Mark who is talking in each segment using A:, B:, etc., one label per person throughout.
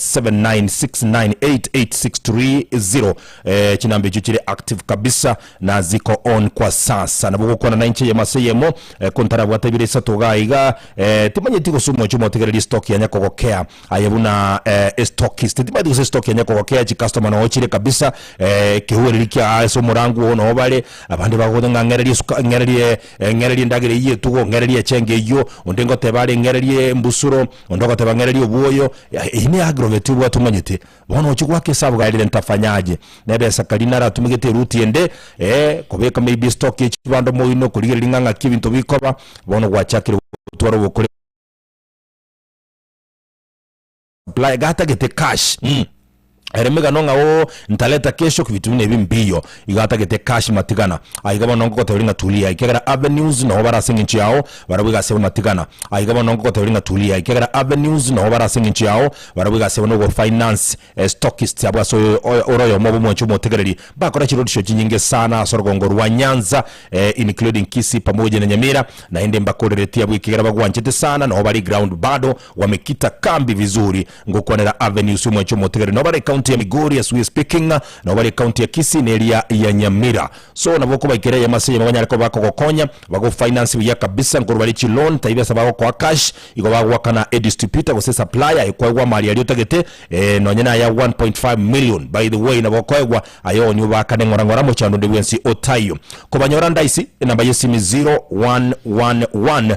A: 796988630 eh, chinamba echo chire active kabisa na ziko on kwa sasa nabo gokwana na inche yemo ase yemo eh, kontarabwate ebire isato iga iga eh, timanyeti gose omochi omotegererie stock yanya kogokea aye buna eh, estokist timanyeti gose stock yanya kogokea chikastoma noo chire kabisa eh, ekehuereri kia ase omorango oo noo bare abande bagogocha ng'a ng'ereria esuka ng'ererie eh, ng'ererie endagera eyio etugo ng'ererie echenge eyio onde ngoteba are ng'ererie embusuro Onde ogoteba ng'a ereria obwoyo, eyio ne aggravate obwate omanyete. Bono ochia goaka esabu gari rent afanyaje nebe esakari naro atumegete eruti ende ee kobeka maybe stock ye chibando moino korigereria ng'a ng'aki ebinto bikoba bono gwachakire gotwara ogokora apply gatagete cash. Ere megano ng'a oo ntareta kesho kbitune ebi mbiyo iga atagete cash matigana aiga bono ngokoteberia ng'a tulia ekiagera avenues noo bare ase engencho yao barabwo egasi ebe matigana aiga bono ngokoteberia ng'a tulia ekiagera avenues noo bare ase engencho yao barabwo egasi ebe nogo finance e stockist abwo ase oyo oyo ore oyomo obo omwancho omotegereri bakora chirorisho chinyinge sana ase orogongo rwa Nyanza including Kisii pamoja na Nyamira naende mbakoreretie abwo ekiagera bagwanchete sana noo bare ground bado wamekita kambi vizuri Ngokwanera avenues omwancha omotigari nobare ecounty ya Migori as we speaking nobare ecounty ya Kisii ne eria ya Nyamira so nabo okobaikera eyemo ase eyemo banyare koba bakogokonya bago finance buya kabisa nkoru bare chi loan taibi ase bagokoa cash igo bagwakana e distributor gose supplier ekwaigwa amari aria otagete eh nonye na aya 1.5 million by the way nabo okoegwa aye onye obakane ng'ora ng'ora mochando onde bwensi otaiyo kobanyora ndaisi enamba ya esimi 0111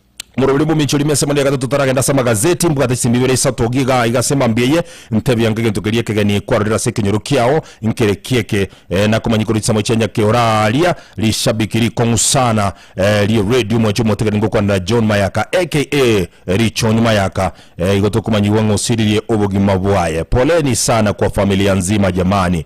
A: Omorweri omomincho rime ase emana ya gatato taragende ase amagazeti, mbwate chisemi ibere isato iga iga iga ase emambia eye, ntebia ng'a egento keria ekegeni kwarorire ase ekenyoro kiao nkere ki eke, eh, nakomanyikwa richiamo chia nyake oraria, rishabiki rikong'usana, eh, rie radio omwancho omotigani ngokwanera John Mayaka aka Richoni Mayaka, eh, igo tokomanyigwa ng'a osiririe obogima bwaye. Poleni sana kwa familia nzima jamani.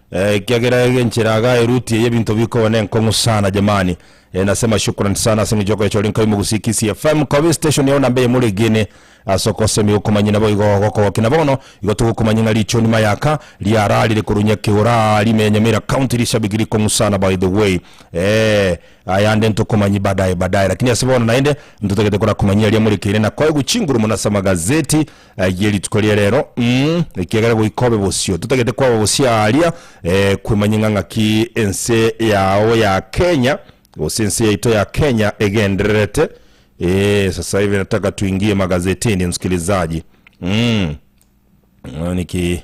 A: Ekiagera ege enchera iga eruti eye ebinto bikoba nenkong'u sana jamani. Eh, nasema shukran sana ase eng'encho yokoechora inkai Mogusii Kisii FM koba estation yao namba eyemo regene ase okosemi okomanyia nabo igo ogokogokia na bono igo togokomanyia ng'a richoni mayaka riararire korwa Nyakeura rime ya Nyamira County rishabiki rikong'u sana by the way eh ayande ntokomanyia badaye badaye lakini ase bono naende ntotagete korakomanyia aria morekeire na koegwa chinguru mono ase amagazeti Ayie rituko ria rero, mm, ekiagera goika obe bosio, totagete kwaba bosio aaria, eh, kwemanye ng'a ng'aki ense yao ya Kenya, gose ense yaito ya Kenya egendererete, eh, sasa hivi nataka tuingie magazetini, msikilizaji, mm, niki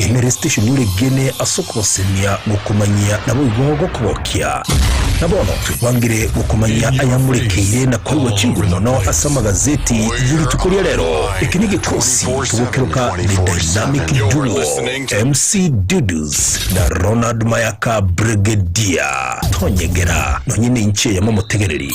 A: Ime resteshoni oregene as'okogosemia gokomanyia naboigo gokogokia. Na bono twekwangire gokomanyia ayamorekeire na koigwa chinguru mono as'amagazeti y'erituko ria rero. Eke negekosi togokeroka The Dynamic Duo, MC Dudu's na Ronald Mayaka Bregedier. Tonyegera, nonye ninche yamomotegereri.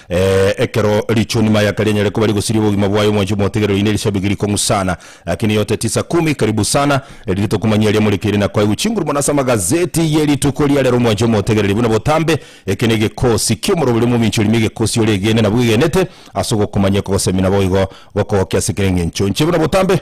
A: Ee, ekero richuni mayaka rianyare koba rigosiria obogima bwaye, omwancho omotegereri oino erishabigi rikong'u sana. Lakini yote tisa kumi, karibu sana, erinde tokomanya eria morekeire na kwaigwa chinguru mono ase amagazeti ye rituko ria rero, omwancho omotegereri buna botambe. Eke negekosi ki'omoroberi omominchori, nime egekosi ore egene na bwegenete ase ogokomanya, ekogosemia na boigo gokogokia ase kera engencho enche buna botambe.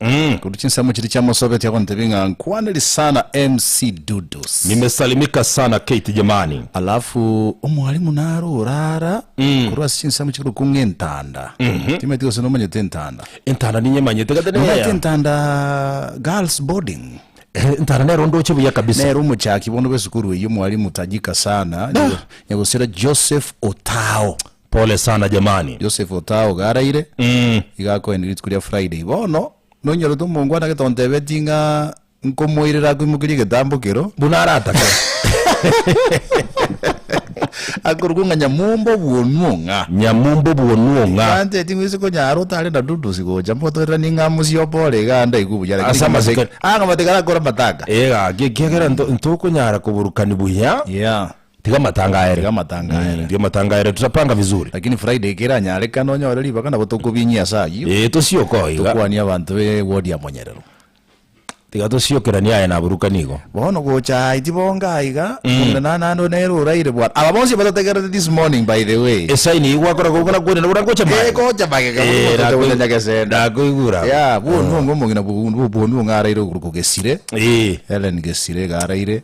B: Umm korwa chinsemo chiria chiamosobeti agontebia ng'a nkwaneri sana MC Dudus. Nimesalimika sana
A: Kate jamani. Alafu
B: omwalimu naro orara korwa ase chinsemo chikorokwa ng'a entanda. Timanyeti gose nomanyete entanda. Entanda ninyemanyete
A: gete Nomanyete neya. entanda
B: girls boarding? Eh, entanda nero
A: ndoche buya kabisa. Nere omochaki bono
B: bw'esukuru eyio omwalimu tajika sana, Nyago- Nyagosira Joseph Otao. Pole sana
A: jamani. Joseph Otao iga
B: araire, iga akoenia rituko ria Friday. Bono nonyorete omongo ande gete ontebetie ng'a nkomoirera akoimokerie egetambo kero. Buna aratake. Akorokwa ng'a Nyamumba obwonu ong'a. Nyamumba obwonu ong'a. Nyancheti ng'we ase konyara otare na Dudus gocha mbotoreranie ng'a mosie obo ore iga andaigwe buya lakini Ase ng'amate amasike. ah
A: ng'amate karakore
B: amatanga. Ee gaki ekiagera nto-
A: ntokonyara koburukani buya. Yeah. Tiga matangaere. Tiga matangaere. Tiga matangaere tutapanga vizuri. Lakini Friday ekero
B: anyarekane onyore ribaga nabo tokobinyia ase ayio. Ee tosioke oo iga. Tokwanie
A: abanto be
B: ward ya Monyerero. Tiga
A: tosiokeranie aye naborokani igo. Bono gocha aye
B: tibonga aiga omonto naye naende nere oraire bwana. Aba bonsi batotegerete this morning by the way. Esign eyio gwakora kobua
A: nakwenerire buna ngocha magega. Ee gocha magega buna omonto
B: ote gocha nyagesenda. Nakoigure abwo. Yeah,
A: bwonu onga
B: omogina bwonu onga araire okoruko Gesire. Ee. Hellen Gesire iga araire.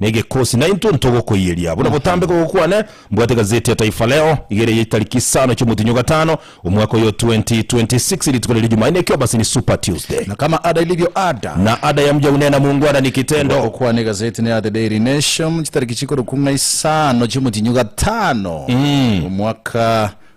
A: na egekosi, naintwe ntogokoiyeria, buna botambe kogo kwane, mbwate gazeti ya Taifa Leo, igere ya chitariki isano chi'omotinyi o gatano, omwaka oyo 2026, rituko riria Jumanne, eki'obasini, Super Tuesday. Na kama ada ilivyo
B: ada. Na ada ya mja hunena
A: muungwana ni kitendo. Goka kwane egazeti ne ya The
B: Daily Nation, chitariki chikorokwa ng'a isano chi'omotinyi o gatano, omwaka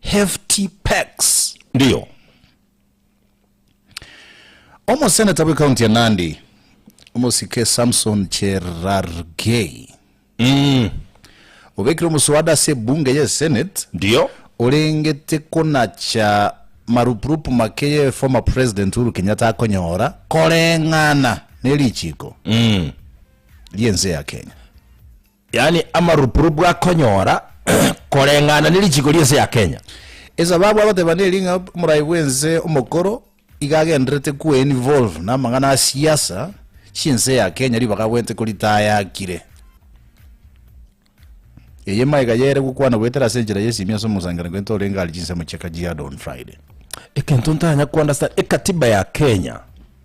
B: Hefty Packs. Ndio. Omoseneta bwe county ya Nandi omosike Samson Cherargei Mm. obekire omoswada ase ebunge ye senate Ndio.
A: orengete
B: konacha marupurupu make ye former president Uhuru Kenyatta akonyora koreng'ana ne richiiko Mm. riense ya Kenya. Yaani
A: amarupurupu akonyora koreng'ana ne richiko ri'ense ya Kenya. Esababu agoteba
B: neri ng'a omorai bw'ense omokoro iga agendererete kwe involve namang'ana a siasa chi'ense ya Kenya ribaga agwete koritaya akire. Eye maega yere gokwana goetera ase enchera y'esiimi ase omosangererio gento orenge are chinsemo chi'Kajiado on Friday. Ekento ntanya
A: ko understand, ekatiba ya Kenya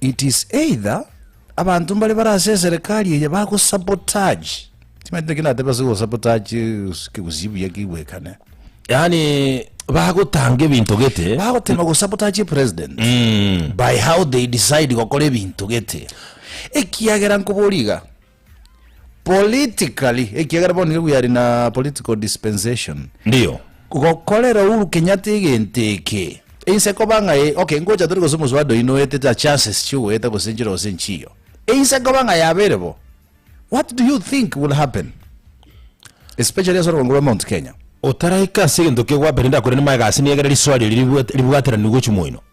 B: It is either abanto mbare bare ase eserekari eye bago sabotage timaete naki natebe ase go sabotage kegusii buya kigwekane yaani
A: bagotanga ebinto gete bagotema go sabotage
B: president mm. by how they decide gokora ebinto gete ekiagera nkoboriga politically, ekiagera bono nigo we are in a political dispensation, Ndio.
A: gokorera Uhuru
B: Kenyatta egento eke, inse koba ng'a eh, okay, ngocha tore gose Muswada oyio noetete a chances chiogoeta gose enchera gose enchiyo, inse koba ng'a yabeire bo, what do you think will happen? Especially ase orogwengo rwa Mount Kenya. Otaraika ase egento
A: kegwabera ndakore nimaega ase niegere riswali eri ribwate- ribwateraniwe gochia moino.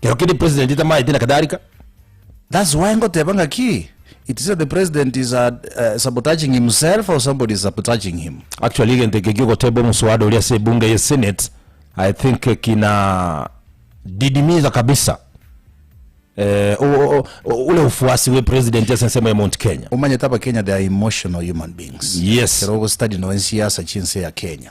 A: Kero kende president tamaete na kadhalika. That's
B: why ngoteba ngaki it is the president is uh, uh, sabotaging himself or somebody is sabotaging him. Actually egento eke
A: giogoteba omuswada oria ase ebunge ye senate I think eh, kina didimiza kabisa eh, o- o- o- ule ufuasi we president ase ensemo ya Mount Kenya. omanyete abakenya they are
B: emotional human beings Yes. kero ogostudy
A: no ensiasa
B: chinse ya kenya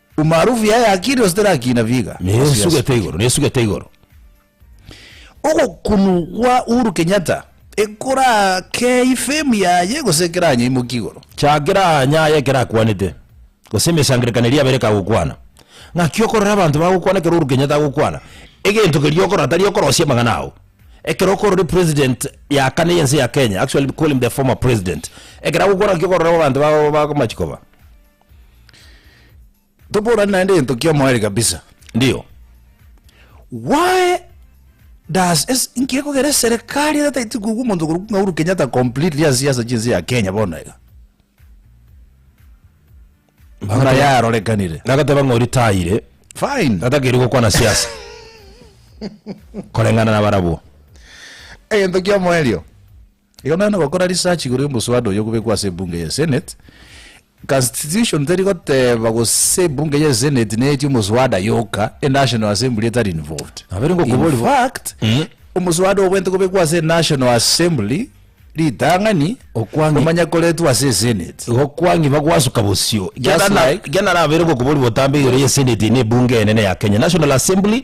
B: Umaarufu yaye akiri gose terakina biga? Nesugete igoro, nesugete
A: igoro.
B: Ogokunu gwa Uhuru Kenyatta ekorakei fame yaye gose ekeranyaimoki igoro? Chakera anya
A: aye ekerakwanete, gose emesangerekano eria abere ekagokwana. Ng'aki okorora abanto bagokwana ekero Uhuru Kenyatta agokwana, egento keria okorora tari okorosia amang'ana ao. Ekero okorora president ya kane y'ense ya Kenya, actually call him the former president, ekero agokwana ng'aki okorora abanto ba- ba- bakomachia koba?
B: Toborane naende egento kia omoerio kabisa. Ndio. Why does es nkegogera eserekari ere taiti kugwa omonto korokwa ng'a Uhuru Kenyatta completely ase siasa chinse ya Kenya bono iga. Buna yarorekanire. Nagateba ng'a oritayire,
A: Fine. natakiri
B: gokwana
A: siasa. Koreng'ana na barabwo. Egento
B: kia omoerio. Ekero nare gokora research igoro y'omoswada oyo obekwa ase ebunge ya Senate, constitution teri goteba gose ebunge ya Senate neetie omoswada yoka, enational assembly etari involved. Nabo ere gokoborwa bo. Infact, omoswada obwenerete kobekwa ase enational assembly, ritang'ani, Okwangi. komanya
A: koretwa ase
B: esenate. Igo okwangi bagwasuka
A: bosio. Just Ekiagera na- like- ekiagera nabo ere gokoborwa botambe igoro y'esenate na ebunge enene ya Kenya, National Assembly,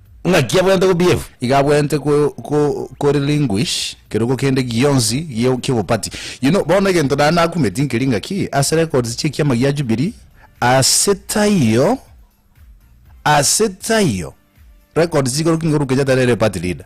B: Ng'aki abwenerete
A: kobiefu? Iga abwenerete ko,
B: ko, ko relinguish kerogo kende gionsi gie- ki'obopati. You know, bono egento naye nakumeti nkeri ng'aki ase records chi'ekiama gia Jubilee, ase taiyo, ase taiyo records chigoro king'oruke Kenyatta nere party leader.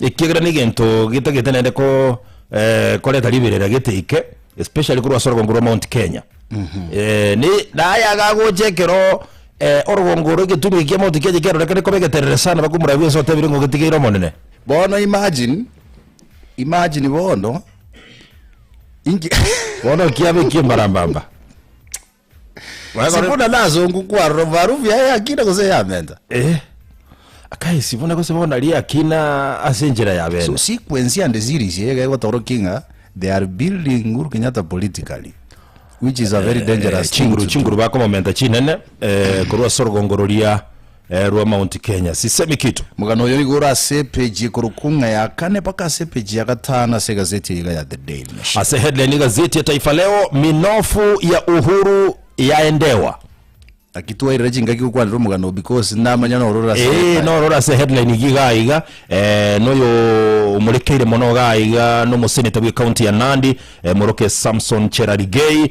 A: Ekiagera negento getagete naende ko eh, koreta riberera geteke especially korwa ase orogongo rwa Mount Kenya. Eh, ne naye agagocha ekero eh, orogongo rwa egetunwa ekia Mount Kenya kiarorekane koba egeterere sana bakomorabia ense otebire ng'a ogetigeire omonene. bono
B: imagine imagine bono inki Bono
A: kiaba eki'embarambamba. Magoro-
B: Sifuna nasongu kwarora omobarufu yaye y'akina gose eyamenta. Eh,
A: akae Sifuna gose bono aria eyakina ase enchera ya So bene. sequence and
B: series eye iga egotorokia ng'a they are building Uhuru Kenyatta politically which is a very dangerous thing chinguru to do. chinguru bakomomenta
A: chinene eh, korwa ase orogongo roria Eh rwa Mount Kenya sisemi kitu. Mokano oyo igoro ase
B: epage ekorokwo ng'a ya kane mpaka ase epage ya gatano ase egazeti eye iga ya The Daily Nation. Ase headline y'egazeti ya
A: Taifa Leo, Minofu ya Uhuru yaendewa. Naki
B: twairire chingaki gokwanera omogano oo because namanya noro ore ase Ee, headline. noro ore ase headline
A: igi iga iga eh, noyo omorekeire mono iga iga nomoseneta bw'ecounty ya Nandi eh, Moroke Samson Cherarigei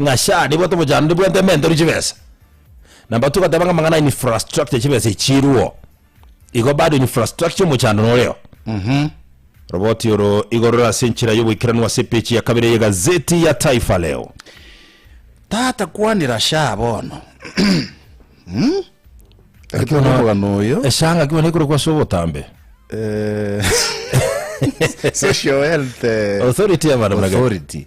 A: Ng'a share bwate obochandori bwate ementori chibesa. Na mbatu gateba ng'a amang'ana infrastructure chibesa echiruo. Igo bado infrastructure omochando noreo. Roboti oro igo rore ase enchera y'oboikeranu ase epechi ya kabere ye gazeti ya Taifa Leo.
B: Tata kwanera shaa bono. Gaki bono omogano oyo. Eshaa ng'aki bono ekorokwa ase
A: obotambe.
B: Eh, Social Health eh, Authority ya bana
A: buna gati. Authority.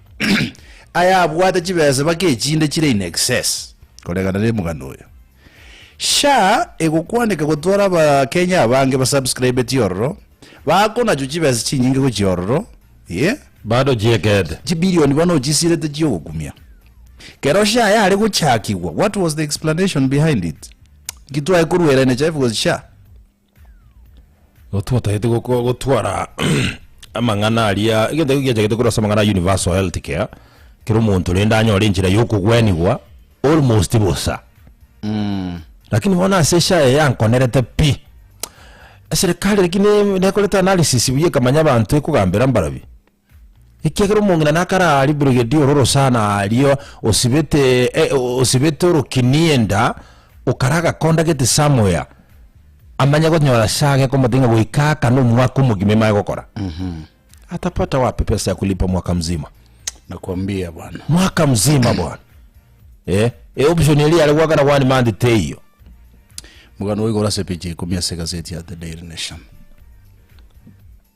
B: Aya abwate chibesa baka echinde chire in excess koregana ne omogano oyo. Sha egokwaneka gotwara abakenya abange basubscribeti ororo bakonachwa chibesa chinyinge gochia ororo eh, Bado
A: chiekete. chibilioni bono
B: ochisirete chiogokumia. Kero sha yare gochakigwa what was the explanation behind it? Nki twaye koruerania chae because sha
A: Totagete goko- gotwara amang'ana aria egento ekio kiachakete korwa ase amang'ana a universal health care, kera omonto rende anyore enchera ya okogwenigwa almost bosa. Rakini bono ase SHA eye yankonerete pi. Eserekari rakini nekorete analysis buya ekamanya abanto ekogambera mbarobi. Ekiagera omong'ina nakare aa riburegeti ororo sana aria osibete eh, osibete orokini enda, okara agakonda gete somewhere, amanye gonyora ase age komotebia ng'a goika aka na omwaka omogima imanye gokora. Atapata wapi pesa ya kulipa mwaka mzima? Nakwambia
B: bwana. mwaka mzima
A: bwana eh, e option eria yare goakana one month teiyo Mokano
B: oigoro ase epicha ya ikomi ase egazeti ya The Daily Nation.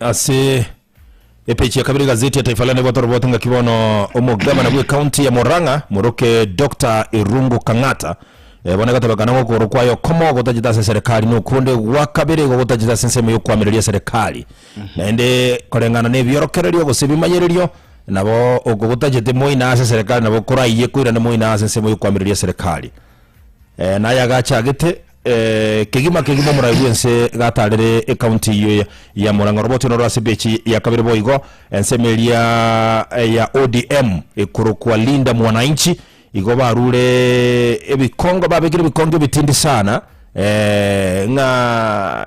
A: ase epeji ya kabere egazeti ya taifa leo naibwate orobwate ng'aki bono omogabana bw'ekaunti ya murang'a moroke dr irungu kang'ata eh, bono egatebekana ng'a okogoro kwaye okomo gotachete ase eserekari na okonde gwa kabere igo gotachete ase ensemo ya okoamereria eserekari naende koreng'ana na ebiorokererio gose ebimanyererio nabo oko gotachete moina ase eserekari nabo koraiye koirane moina ase ensemo ya okoamereria eserekari Eh, naye agachagete eh, kegima kegima omorai bw'ense gatarere ekaunti eyio ya- ya Murang'a Roboti noro ase pechi ya kabere boigo ensemo eria eh, ya ODM ekorokwa Linda Mwananchi igo barure ebikongo babekire ebikongo ebitindi sana eh, ng'a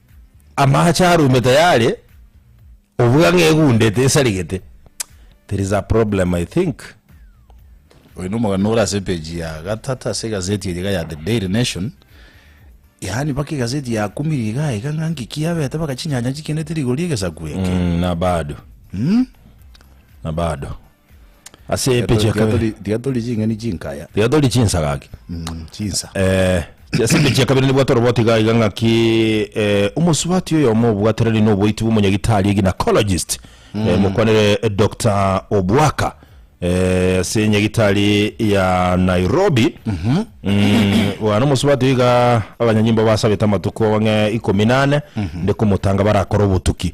A: Amaache arume tayari, obuga ng'a egundete esarigete. There is a problem I think.
B: Oyo nomogano ore ase page ya gatata ase egazeti eye iga ya The Daily Nation. Yaani mpaka egazeti yakumire iga iga ng'a nki kiabete mpaka chinyanya chikenete rigori egesaku eke. Mm, na bado.
A: Na bado. Ase epeji ya kabere. Diathori- diathori ching'eni
B: chinkaya Diathori chinsa gaki.
A: Mm, chinsa
B: Eh, ase
A: epeji ya kabere nibwate oroboti iga iga ng'aki eh, omosubati oyomo obwatereri na oboiti bwa omonyagitari eginacologist eh, mokwanere eh, Dr. Obwaka eh, ase enyagitari ya Nairobi Mm, bwana omosubati oyo iga abanyanyimbo basabete amatuko ang'e ikomi nane nde komotanga barakore obotuki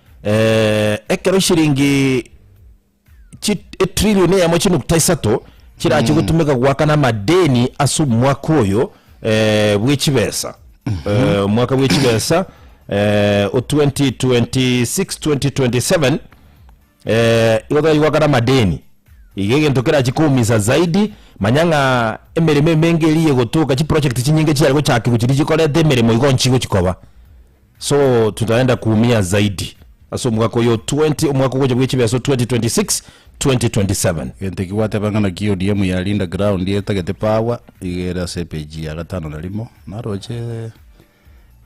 A: eh, ekero ishiringi chi- etrilioni eyemo chinukta isato chirache gotumeka goakana amadeni ase omwaka oyo eh, bw'echibesa Eh, omwaka bw'echibesa eh, o 2026-2027 eh, igo tari goakana amadeni iga egento kerachi koumisa zaidi manya ng'a emeremo emenge eri egotoka chiproject chinyinge chiare gochakigwa chiri chikorete emeremo igo nchigo chikoba So tutaenda kuumia zaidi ase omwaka oyo 20 omwaka ogocha bwe chibeso 2026 2027 Gento ki gwateba
B: ng'ana ki ODM yarinda ground etagete power iga ere ase page ya gatano na rimo naroche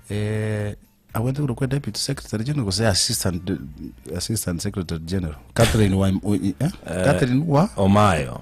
B: eh, abwate korwa kwa deputy secretary general gose assistant assistant secretary general Catherine wa eh? Catherine wa
A: omayo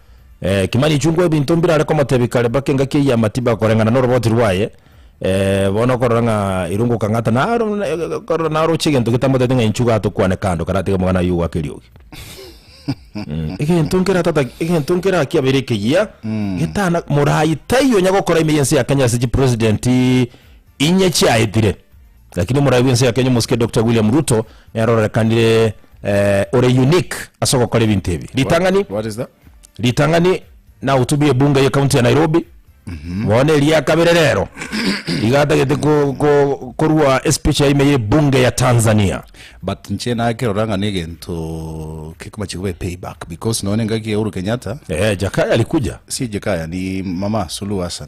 A: Eh, kimani chungwa ebinto mbirare komotebi kare mpaka engaki eye amatiba koreng'ana noroboti rwaye eh, bono okorora ng'a irungu kang'ata naro na- korora naroche egento getamotete ng'a inchuga atokwane kando karatege omogana oyio ogwaka eriogi Mm, egento nkera tata egento nkera aki abere ekeyia getana morai taiyo nyagokora ime yense ya kenya ase chipresident inye chiaetire Lakini omorai bw'ense ya Kenya omosike Doctor William Ruto nere ororekanire eh, ore unique ase ogokora ebinto ebi. Ritang'ani What is that?
B: ritang'ani
A: nahutubia ebunge ye county ya nairobi Mhm. bono eria kabere rero igatagete ko- ko- korua espeech yaime ye bunge ya tanzania but nche
B: nakerora ng'a negento kekomache kobe payback because none engaki ya Uhuru Kenyatta eh, jakaya alikuja
A: si jekaya ni
B: mama Suluhu Hassan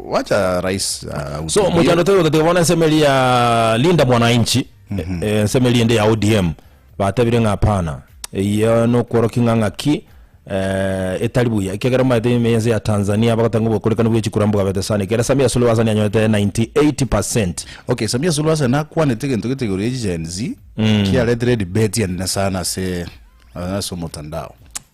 B: Wacha rais So ahutubie. mochando taigo
A: tatiga bono ensemo eria ya Linda Mwananchi eh, ensemo eria ende ya ODM batebire ng'a hapana eyio nokworokia ng'a ng'aki eh, etari buya ekiagera mbaete ime ense ya Tanzania bagoteba ng'a obokorikani bwa echikura mbwabete sana ekero Samia Suluhu Hassan anyorete 98% Okay, Samia
B: Suluhu Hassan akwanete egento gete igoro ya Gen Z kiaretire debate ende sana ase ase omotandao.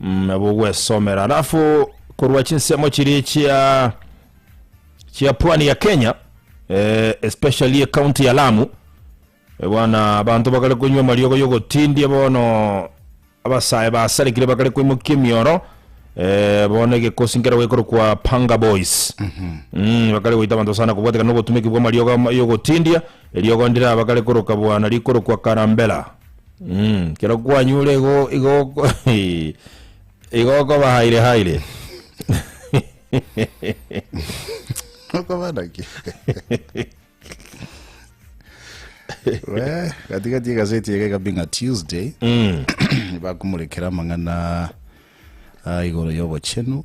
A: nabo gwesomera alafu korwa chinsemo chiri chia chia pwani ya kenya eh, especially ekaunti ya lamu Eh, bwana abanto bakare konywa amariogo yogotindia bono abasae basarekire bakare koimokia emioro eh, bono egekosi nkero gekorokwa panga boys Mm, bakare goita abanto sana kobwatekana nogotumeki bwa amariogo ama- yogotindia eriogo ndira bakare koroka bwana rikorokwa karambela Mm, kero kwanyure igo igo oko- igo okoba haire haire
B: okoba naki we katikati egaseti ege kabinga tuesday Mm, bakumurikira amang'ana ah, igoro y'obochenu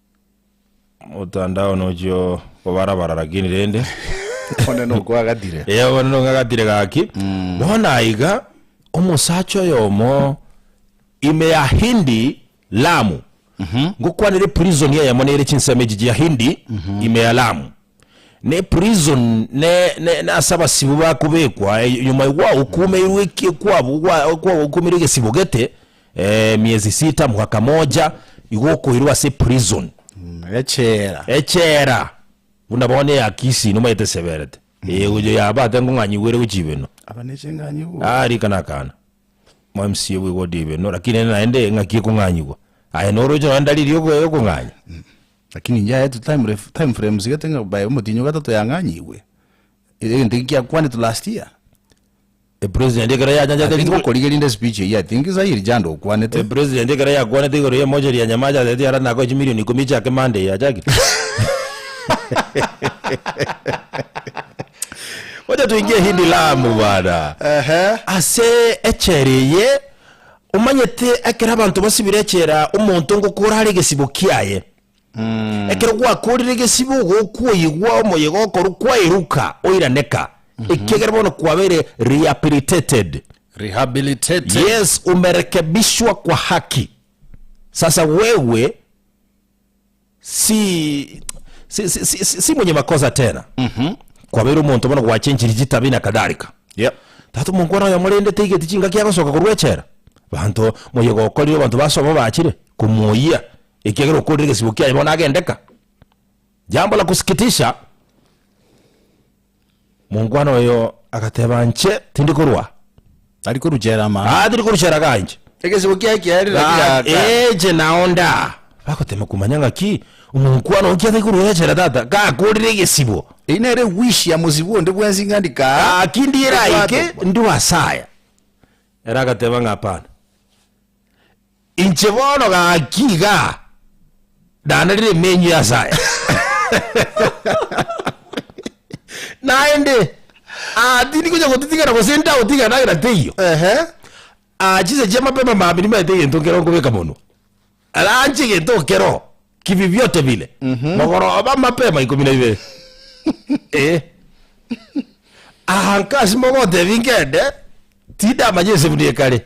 A: Motandao nochio kobara bara lakini rende One
B: nokwagatire. Eh, bono nong'agatire
A: gaki bono naiga omosacha oyomo ime ya hindi lamu ngokwanera eprison eyemo nere chinsemo echi chia hindi ime ya lamu na eprison ne- ne- nase abasibo bakobekwa eh, nyuma igwa okumeirwe eki- ekwabo gwa- kwa- okumeirwe egesibo gete Ee, miezi sita, mwaka moja, igo okoirwa ase prison, Echela. echela, buna bono eya Kisii nomaete eseberete eye gocha yaba ake nkong'anyigwa ere gochia ibeno. Aba ne ching'anyigwa.
B: Ah, rikana akana.
A: Mo MCA bwe ward ibeno, lakini ere naende eng'aki ekong'anyigwa. Aye noroche nonya ndalili ya oko- ya okong'anya. Lakini inche
B: aye tu time ref- time frame sigete ng'a bae omotienyi o gatato yang'anyigwe. Egento eki kiakwanetwe last year. Epresident
A: ekero yachanchete I think rituko bokorigeria rinde speech
B: eyio I think sa iri jando okwanete. Epresident ekero yakwanete
A: igoro ya emocherie ya Nyamache asereti ara nakoe chimilion ikomi echi ake Monday eye achakire. Wacha tuingie Hindi Lamu bwana. Ehe. Ase echela eye omanyete ekero abanto basibire echela omonto ngokora are egesibo kiaye. Ekero gwakoorire egesibo gokw'oigwa omoyega okoru kwaeruka oiraneka, ekiagera bono kwabeire rehabilitated. Rehabilitated. Yes, umerekebishwa kwa haki. Sasa wewe si si, si, si, si, si mwenye makosa tena. Kwabeire omonto bono gwachenchiri chitabi na kadhalika. Yep. Tata
B: omongwana oyo
A: amorendete igeti chingaki agosoka korwa echela. Abanto moyega okorire abanto base obo bachire komwoyia Ekiagera okorire gesibo kiaye bono agendeka. Jambo la kusikitisha, monkwana oyo agateba, Nche tindi korwa, Tari koruchera
B: ama. ah, tindi koruchera iga inche.
A: Egesibo kiaye kiarire
B: naki Ga- gaka. Eche
A: nao nda. Bagotema komanya ng'aki omonkwana okia taikoruechera tata, gakorire egesibo. Eye nere wish ya
B: mosibwa onde bwensi ng'a ndikaa. Gaki ndiera aike,
A: Obwato. ndi wasaya. Ere agateba ng'a hapana. Inche bono gaki iga ndanarire emenywa ase aya, naende aa tindi gocha gotitigana gose ntagotigana nagera teiyo. Ehe. Aa chinsa chia mapema maambia nimaete egento nkere nkobeka monwa. Ranch egento okero kibi biote bire. Mogoroba mapema ikomi na ibere. Eh. Aa nkasimeka otebi nkende tindamanya ase buna ekare.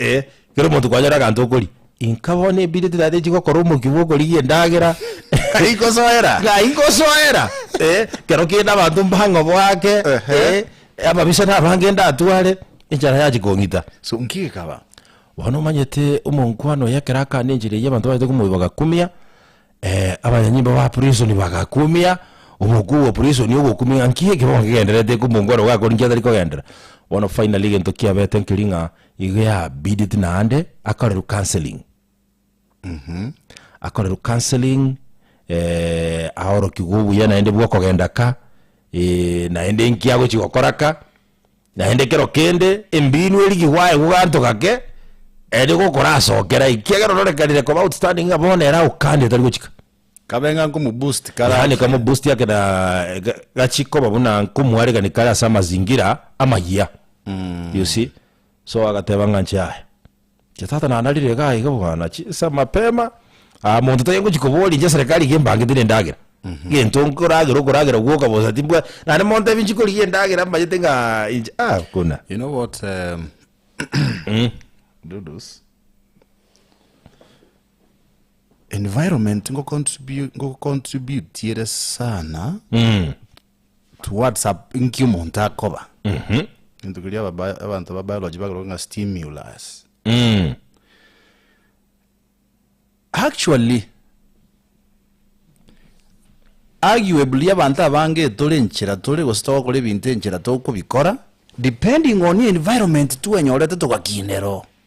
A: Ee, kera omonto kwanyora aganto okoria. Inka bono ebiriti naende nchigokora omokia bwa okorigia endagera. Ng'ai nkosoera? Ng'ai nkosoera? Ee, kero kende abanto mbang'obo ake, Ehe. ee, ababisa nabange ndatware, enchara yanchia kong'ita. So, nki gekaba?
B: Bono omanyete
A: omonkwano oye ekero akana enchera eyio abanto bachete komoiboga kumia, abanyanyimbo b'abaprison bagakumia, omokuu bw'abaprison ogokumia ng'a nki ekero nkegendererete eke omonto ore gokora inki atari kogenderera. Bono finally egento kiabete nkeri ng'a igo yabideti naende akorerwa counselling, akorerwa counselling aorokigwe obuya naende bw'okogenda ka naende nki agochi gokora ka. Naende ekero kende embiinu erigigwe aye goganto gake, ere gokorasokera, ekiagera ororekanire koba outstanding ng'a bono ere aukande otari gochika. Kabe ng'a
B: nkomoboost kare Yaani ake. kamoboost ake na
A: ga- gachie koba buna nkomwarekani kare ase amazingira amayia. You see? So agateba ng'a nchiaya. Inche tata nanarire iga aiga bwana chinsa mapema, aa monto tari ngochi koboria inche eserekari iga embange tiri endagera, gento nkoragera okoragera gwoka bosa timbwati, naende monto ebi nchikorigia endagera mbanyete ng'aa inche aa buna. You know what
B: um, Dudus? Environment ngocontribu- ngocontributiere sana Mm. To words up inki omonto akoba gento keria aba bi- abanto ba biology bakorwa ng'a stimulus actually arguably abanto abange tore enchera tore gose togokora ebinto enchera tokobikora depending on environment twenyorete togakinerwa oo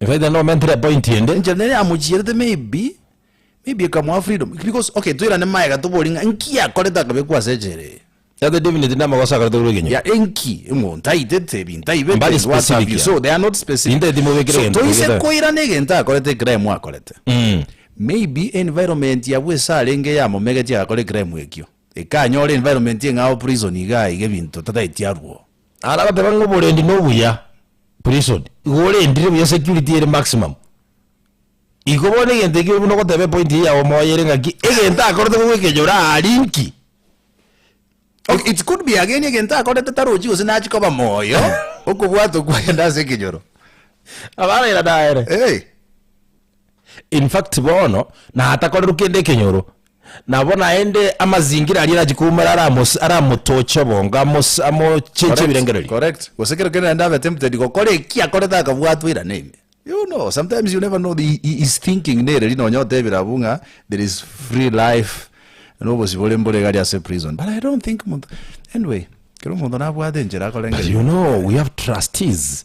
A: Efaida nomentire epointi ende. Enchera nere yamochierete
B: maybe, maybe ekamoa freedom because okay toirane maega tobori ng'a nki akorete akabekwa ase echela eye. Tate David tindi
A: amagoso akorete korwa ekenyoro. Yeah enki? Omonto
B: aitete ebinto aibete Mbari and what have specific you. So they
A: are not yani. specific.
B: Ninde timobekire So egento toise
A: togete. koirana
B: egento akorete ecrime akorete. Mm. Maybe environment abwo ase arenge yamomegetie agakora ecrime ekio. Ekanyora environment eng'ao prison igaa iga ebinto tataeti arwoo. Arabatebe ng'a
A: oborendi nobuya, prison, igo orendire buya security ere maximum. Iko bono egento ekio buna ogoteba epoint eye yao moyo ere ng'aki, egento akorete nigo ekenyoro aria inki?
B: Ok, it could be ageni egento akorete tarochi gose nachia koba moyo okobwata okwo agende ase ekenyoro.
A: Abarairane aye ere. Eeh. In fact bono natakorerwa kende ekenyoro, nabo naende amazingira aria nachi koumera aramos aramotoche obongo amos amochenche Correct, ebirengererio. correct. Gose kero kende
B: naende abe tempted gokora eki akorete akabwatwa ira neme. You know, sometimes you never know the, hi- hi- his thinking nere ri nonya otebire abwo ng'a there is free life na obosio bore mbore iga aria ase prison but I don't think monto anyway kero omonto
A: nabwate enchera
B: akorenge
A: You know we have trustees.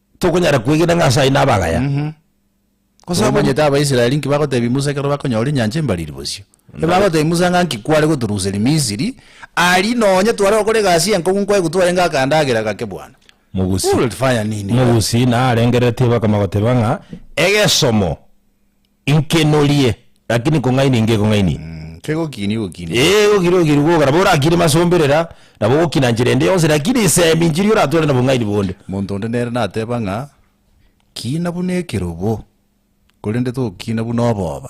A: tokonyara kwegena ng'a as'ayio nabagaya, Gose
B: abanyene. Omanyete Abaisraeli inki bagotebia Musa ekero bakonyora enyancha embariri bosio? Ebagotebi Musa ng'a nki kware gotoruseria Misiri, aria nonye tware gokora egasi enkong'u nkoegwa twarenge akandagera gake bwana. Mogusi. Ore
A: fire nini?
B: Mogusi naarengereretie
A: bakama goteba ng'a egesomo. Inki norie? Lakini kong'ainia inki ekong'ainia? Mm, kegokinia
B: ogokinia. Ee, egokinia ogokinia gokogora, nabo
A: orakinie masomberera, nabo ogokina nchera ende yonsi, lakini isemi inchiri oratware nobong'aini bonde. Monto onde nere nateba
B: ng'a, Kina buna ekerobo, korende togokina buna oboba.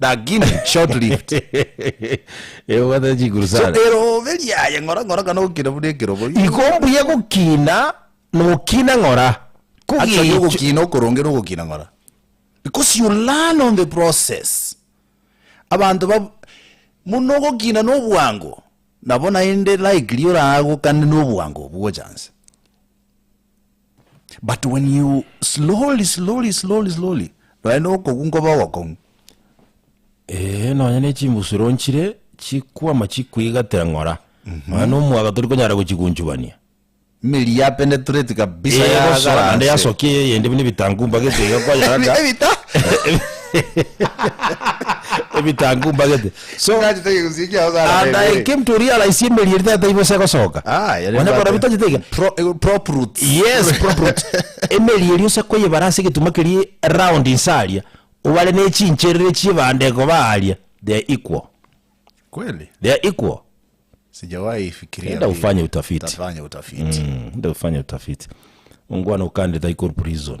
A: Lakini
B: short lived.
A: Eh, obwate chiguru So sana. erobe riaye
B: ng'ora ng'ora kana ogokina buna ekerobo. Igo mbuya
A: gokina nokina ng'ora. Actually Kogecho-
B: ogokina okoronge nogokina ng'ora. Because you learn on the process. Abanto ba muno ogokina nobwango nabo naende likely oragokane nobwango obwo ochanse. But when you slowly slowly slowly slowly nonya na okong'u nkoba ogokong'u
A: Ee, nonya na echimbusuro nchire chikwama chikwigatera ng'ora nonya na omwaga tori konyara gochigunchubania meri ya
B: penetrate kabisa Ee, gosoa yagara naende nse. yasokia eye
A: eyende buna ebitangu mbagete iga kwanyara Ebi- ebita- ebitangu mbagete So, and I came to realize emeri eria tata ibosa egosoka. Onye korabia tachete iga. Yes, prop
B: roots.
A: Emeri eria ose koyebara ase egetuma keria round inse aria, obare ne chincherere chi'ebande koba aaria. They are equal.
B: They are
A: equal.
B: Enda ofanye utafiti.
A: Enda
B: ofanye
A: utafiti. Ongwana okande tai kor prison.